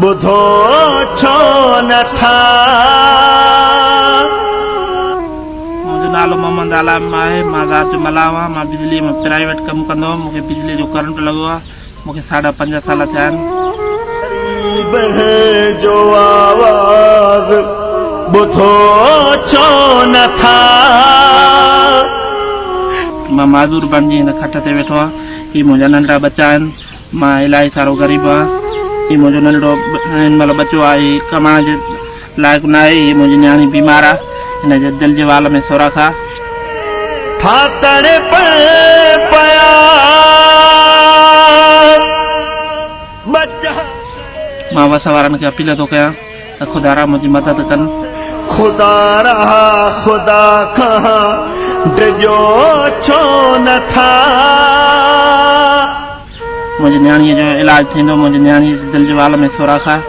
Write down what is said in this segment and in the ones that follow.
ٻڌو ڇو نه ٿا. منهنجو نالو محمد عالم آهي مان ذات جو ملاح هئان مان بجلي ۾ پرائيوٽ ڪم ڪندو هئم مون کي بجلي جو ڪرنٽ لڳو آهي مون کي ساڍا پنج سال ٿيا آهن. غريب هين جو آواز ٻڌو ڇو نه ٿا. مان معذور بڻجي هن کٽ تي ويٺو آهيان هي منهنجا ننڍڙا ٻچا آهن مان الاهي سارو غريب آهيان. هي منهنجو ننڍڙو هن مهل ٻچو آهي. هي ڪمائڻ جي لائق نه آهي. هيء منهنجي نياڻي بيمار آهي. هن جي دل جي وال ۾ سوراخ آهي. ٿا تڙپن پيا ٻچا ڪري. مان وس وارن کي اپيل ٿو ڪيان. ته خدا را منهنجي مدد ڪن. خدا را خدا کان ڊڄو ڇو نه ٿا. منهنجي نياڻيء جو علاج ٿيندو. منهنجي نياڻيء جي دل جي وال ۾ سوراخ آهي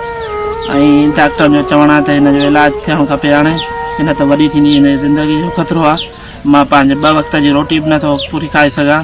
۽ ڊاڪٽرن جو چوڻ آهي ته هن جو علاج ٿيڻ کپي هاڻي ڪي نه ته وڏي ٿيندي هن جي زندگيء جو خطرو آهي. مان پنهنجي ٻه وقت جي روٽي به نه ٿو پوري کائي سگهان.